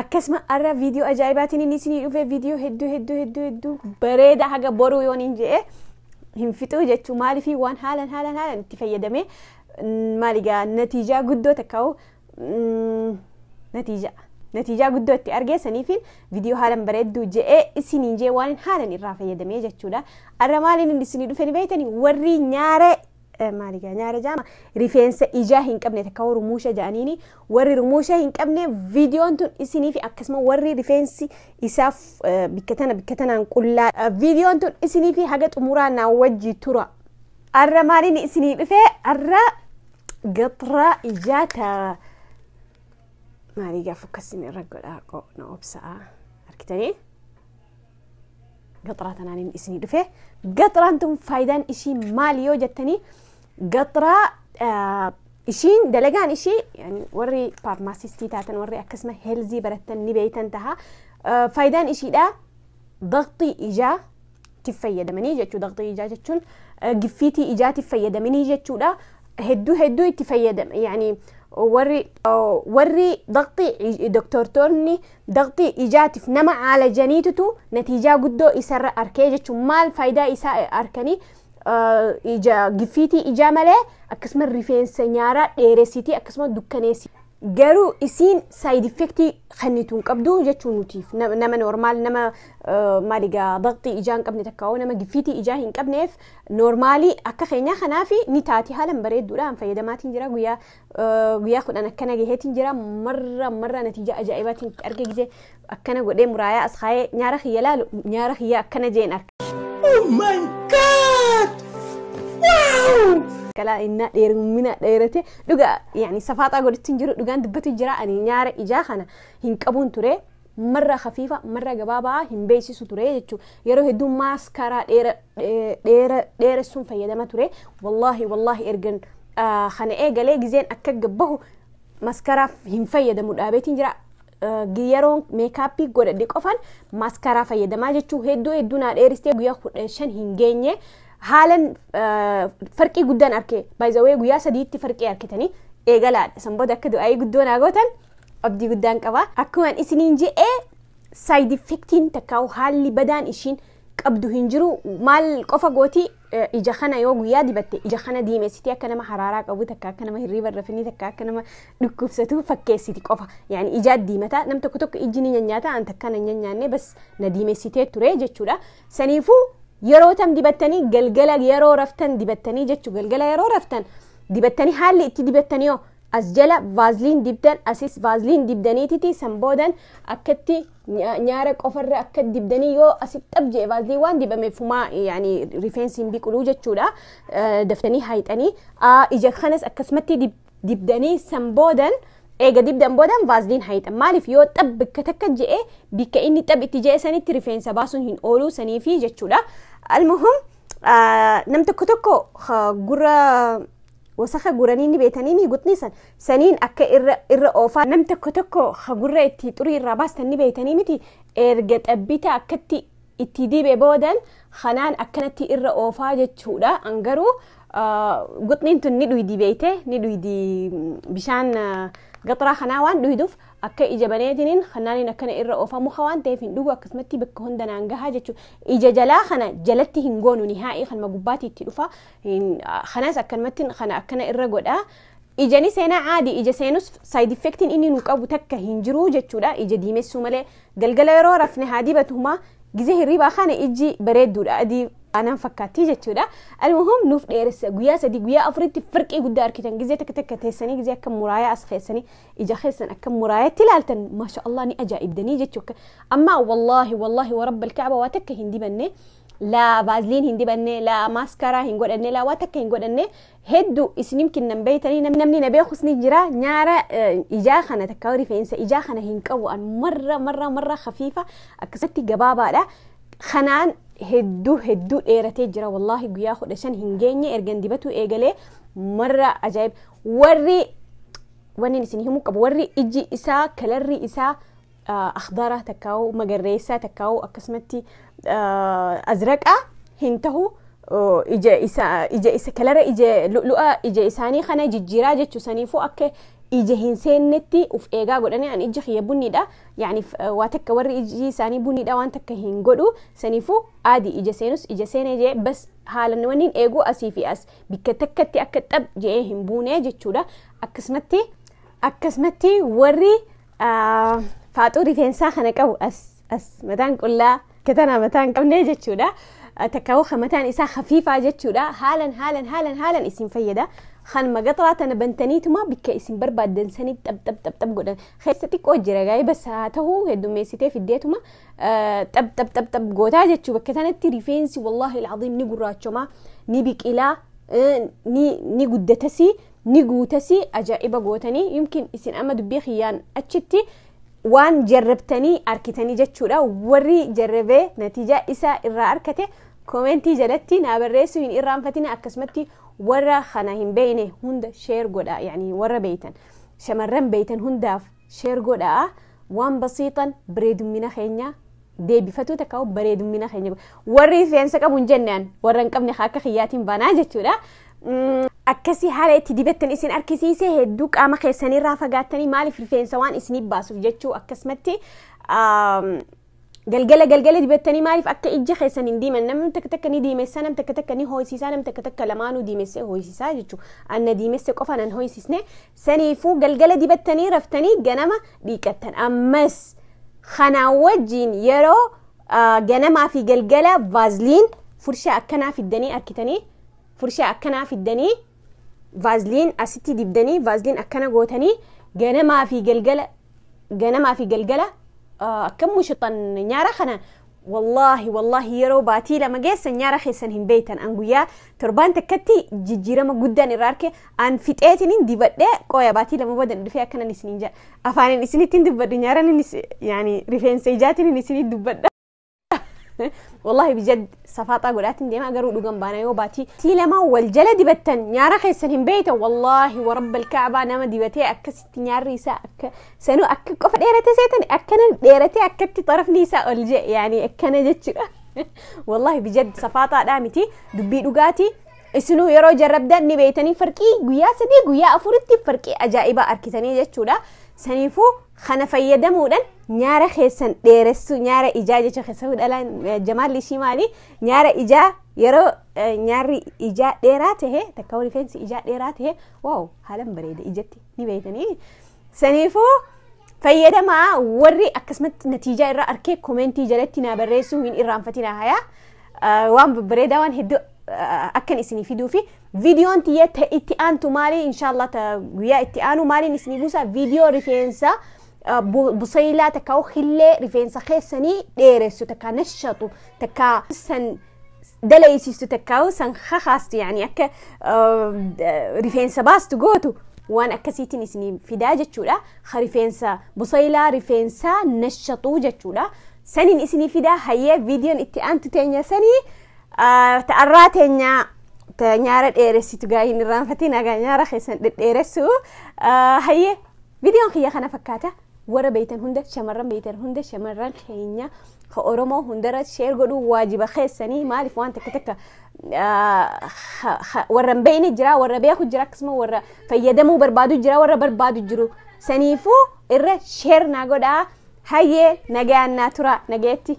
Akkasuma arra viidiyoo ajaa'ibaatiin inni isinii dhufee viidiyoo hedduu hedduu hedduu hedduu bareeda haga boruu yoon hin je'e hin fixuu jechuu maaliifii waan haalan haalan haalan itti fayyadamee maaligaa natiijaa guddoo takka'u natiijaa natiijaa guddoo itti argeessaniifiin viidiyoo haalan bareedduu je'ee isiniin jee waan haalan irraa fayyadamee jechuudha arra maaliin inni isinii dhufee ni beeytanii warri nyaaree maali gaa nyaara jaama rifeensa ijaa hin qabne takka warri rumuusha ja'aniini warri rumuusha hin qabne viidiyoon tun isiniif akkasuma warri rifeensi isaaf bikka tana bikka tanaan qullaa viidiyoon tun isiniif haga xumuraa naa wajji tura arra maaliin isinii dhufee arra gatra ijaa ta maalii gaaf akkasin irra godhaa qo na obsa'a argitanii gaxraa tanaan inni isinii dhufe gaxraan tun faayidaan ishii maali yoo jettanii gaxraa ah, ishiin dalagaan ishii yani warri faarmaasistii taatan warri akkasuma heelzii barattan ni beeytan taha Ah, faayidaan ishiidha daqxii ijaa tiif fayyadamanii jechuu daqxii ijaa jechuun ah, giffiitii ijaatiif fayyadamanii jechuudha hedduu hedduu itti fayyadame yani warri warri daqxii doktortoonni daqxii ijaatiif nama caalajaniitutu natiijaa guddoo isarra arkee jechuun maal faayidaa isaa arkanii ija gifiitii ijaa malee akkasuma rifeensa nyaaraa dheeressitii akkasuma dukkaneessi garuu isiin saayid effektii kennitu hin qabdu jechuu nutiif nama normaal nama maaligaa daqxii ijaa hin qabne takka nama gifiitii ijaa hin qabneef Noormaalii akka keenyaa kanaafi ni taati haalan bareedduudha an fayyadamaatiin jira guyyaa eh, guyyaa kudhan akkana gaheetiin jira marra marra natiija ajaa'ibaatiin itti arge gizee akkana godhee muraayaa as kaayee nyaara kiyya laalu nyaara kiyya akkana jeen arka kalaa innaa dheerumina dheerate dhuga yani safaaxaa godhatiin jiru dhugaan dubbati jira ani nyaara ijaa kana hin qabuun ture marra kafiifa marra gabaabaa hin beeksisu ture jechuun yeroo hedduu maaskaraa dheera dheera dheeressuun fayyadama ture wallaahi wallaahi ergan ah, kana eegalee gizeen akka gabbahu maskaraaf hin fayyadamu dhaabeetiin jira Ah, gi- yeroon meekaappii godhadhe qofan maaskaraa fayyadamaa jechuu hedduu hedduu naa dheeristee guyyaa kudha shan hin geenye haalan ah, farqii guddaan arke baay'izawee guyyaa sadiitti farqii arkitanii eegalaadha san booda akka du'aayii guddoo naa gootan abdii guddaan qaba. Akkuman isiniin je'e side effectiin takkaa'u haalli badaan ishiin qabdu hin jiru. Maal qofa gooti eh, ija kana yoo guyyaa dibatte ija kana diimessitee akka nama haraaraa qabu takka akka nama hirriiba irra finni takka akka nama dhukkubsatu fakkeessiti qofa. Yaani ijaa diimata nam tokko tokko ijji ni nyanyaata an takka na nyanyaanne bas na diimessitee ture jechuudha. Saniifuu yeroo tam dibattanii galgala yeroo raftan dibattanii jechuu galgala yeroo raftan dibattanii haalli itti dibattanii hoo As jala vaazliin dibdan asis vaazliin dibdaniititi san boodan akkatti nyaara qofarra akka dibdanii yoo asi xab jee vaazliin waan dibame fumaa yani rifeensi hin biqiluu jechuudha daftanii haayxanii ija kanas akkasumatti dibdanii san boodan eega dibdan boodan vaazliin haayxan maaliif yoo xab bakka takka je'e bikka inni xab itti je'e sanitti rifeensa baasuun hin ooluu saniifi jechuudha almuhum nam tokko tokko gurra Wasaka guranii ni beetanii mii gutnii san saniin akka irra irra oofaa nam tokko tokko ha gurra itti xurii irraa baastan ni beetanii miti erga xabbita akkatti itti dibe boodan kanaan akkanatti irra oofaa jechuudha an garuu gutniin tun ni dhuydi beeyte ni dhuydi bishaan gaxraa kanaa waan dhuyduuf akka ija baneetiniin kanaaniin akkana irra oofa muka waan ta'eef hin dhugu akkasumatti bakka hunda naan gahaa jechuudha ija jalaa kana jalatti hin goonu nihaa'ii kanuma gubbaatti itti dhufa Kanas akkanumatti kana akkana irra godha. Ijani seenaa caadi ija seenus saayid effektiin inni nu qabu takka hin jiru jechuudha. Ija diimessuu malee galgala yeroo rafne haa dibatu humaa gizee hirriibaa kana ijji bareedduudha adii aanaan fakkaattii jechuudha. Almuhum nuuf dheeressa guyyaa sadii guyyaa afuritti firqii guddaa arkitan gizee takka takka teessanii gizee akka muraayaa as keessanii ija keessan akka muraayatti ilaaltan maasha Allah ni ajaa'ibdanii jechuudha. Amma wallaahi wallaahi warabba alkaaba waa takka hin dibanne laa vaazliin hin dibanne laa maaskaraa hin godhanne laa waa takka hin godhanne heddu isinim kinnan beeytanii nam- namni na beekus ni jira nyaara eh, ijaa kana takka rifeensa ijaa kana hin qabu an marra marra marra hafiifa akkasatti gabaabaadha kanaan hedduu hedduu dheeratee jira wallaahi guyyaa kudha shan hin geenye ergan dibatuu eegalee marra ajaa'ib warri wanni isin himuu qabu warri iji isaa kalarri isaa akhdaraa takkaa'u magarreessaa takkaa'u akkasumatti azraqaa hin tahu ija isa ija isa kalara ija lu'a ija isaanii kana jijjiiraa jechuu saniifuu akka ija hin seennetti uf eegaa godhanii an ija kiyya bunniidha yaani waa takka warri iji isaanii bunniidha waan takka hin godhu saniifuu aadi ija seenus ija seenee jee bas haalan wanniin eeguu asii fi as bikka takkatti akka xab jee hin buune jechuudha akkasumatti akkasumatti warri Faaxuu rifeensaa kana qabu as as mataan qullaa katana mataa hin qabne jechuudha. Takkaawuu kan mataan isaa hafiifaa jechuudha. Haalan haalan haalan haalan isin fayyada. Kan magaxraa tana bantaniituma bikka isin barbaaddan sanii xab xab xab xab godhan. Keessa xiqqoo jira gaa'ee bassa haa ta'u heddummeessitee fiddeetuma xab xab xab xab gootaa jechuu bakka tanatti rifeensi wallaahi alcaziim ni gurraachoma ni biqilaa ni guddatasii ni guutasi ajaa'iba gootanii yumkin isin amma dubbii kiyyaan achitti waan jarrabtanii arkitanii jechuudha warri jarrabee natiijaa isa irraa arkate koomentii jalatti naa barreessuu hin irraanfatina akkasumatti warra kana hin beeyne hunda sheer godha yani warra beeytan shamarran beeytan hundaaf Share godhaa waan basiixan bareedummina keenya deebifatuu takka bareedummina keenya warri rifeensa qabu hin jenne an warra hin qabne akka kiyyaatiin banaa jechuudha. Akkasii haala itti dibattan isin argisiisee hedduu qaama keessanirraa fagaattanii maaliif rifeensa waan isiniif baasuuf jechuu akkasumatti Galgala galgala dibattanii maaliif akka ijji keessan hin diiman namni takka takka ni diimessa nam takka takka ni hooyisiisaa nam takka takka lamaanuu diimessee hooyisiisaa jechuudha. Anna diimesse qofa nan hooyisisne saniifuu galgala dibattanii raftanii ganama dhiiqattan ammas kanaa wajjiin yeroo ganamaa fi galgala vaazliin furshaa akkanaa fiddanii arkitanii furshaa akkanaa fiddanii vaazliin asitti dibdanii vaazliin akkana gootanii ganamaa fi galgala ganamaa fi galgala akkam mushixan nyaara kana wallaahi wallaahi yeroo baatii lama geessa nyaara keessan hin beeytan an guyyaa torbaan takkatti jijjiirama guddaan irraa arke an fixeetinin dibadhee qooya baatii lama booda dhufee akkanan isinin jedha afaanin isinittiin dubbadhu nyaaran yaani rifeensa ijaatiin isinin dubbadha wallahi bijad safaaxaa godhaatiin deemaa garuu dhugan baana yoo baatii tii lamaa wal jala dibattan nyaara keessan hin beeyta wallahi warabbal kaabaa nama dibatee akkasitti nyaarri isaa akka sanuu akka qofa dheerate seetan akkana dheeratee akkatti xarafni isaa ol je yaani akkana jechuudha wallahi bijad safaaxaadhaa miti dubbii dhugaatii isinuu yeroo jarrabdan ni beeytanii farqii guyyaa sadii guyyaa afuritti farqii ajaa'ibaa arkitanii jechuudha saniifuu Kana fayyadamuudhan nyaara keessan dheeressuu nyaara ijaa jecha keessahuu dhalaan eh, jamaalli ishii maali nyaara ijaa yeroo eh, nyaarri ijaa dheeraa tahe takka rifeensi ijaa dheeraa tahe waaw haalan bareeda ijatti ni beeytanii saniifuu fayyadamaa warri akkasumatti natiijaa irraa arkee komentii jalatti naa barreessuu hin irraanfatinaa hayaa Eh, waan babbareedaa waan hedduu eh, akkan isinii fiduu fi Videon tiyya ta itti aantu maali inshallah ta guyyaa itti aanu maaliin isinii buusa video rifeensa busaylaa takka hillee rifeensa keessanii dheeressu takka nashatu takka san dalaysiistu takka san kakaastu yaani akka rifeensa baastu gootu waan akkasiitiin isinii fidaa jechuudha ka rifeensa busaylaa rifeensa nashatu jechuudha saniin isinii fidaa hayyee videon itti aantu teenya sanii Ta'arraa teenyaa ta nyaara dheeressitu gaa hin irraanfatiin agaa nyaara keessan dhedheeressu hayyee viidiyoon kiyya kana fakkaata warra beeytan hunda shamarran beeytan hunda shamarran keenya ka oromoo hundarra sheer godhuu waajiba keessanii maaliif waan takka takka warra hin beeyne jira warra beeku jira akkasuma warra fayyadamuu barbaadu jira warra barbaadu jiru saniifuu irra sheer naa godhaa hayyee nagayaan naa tura nagayetti.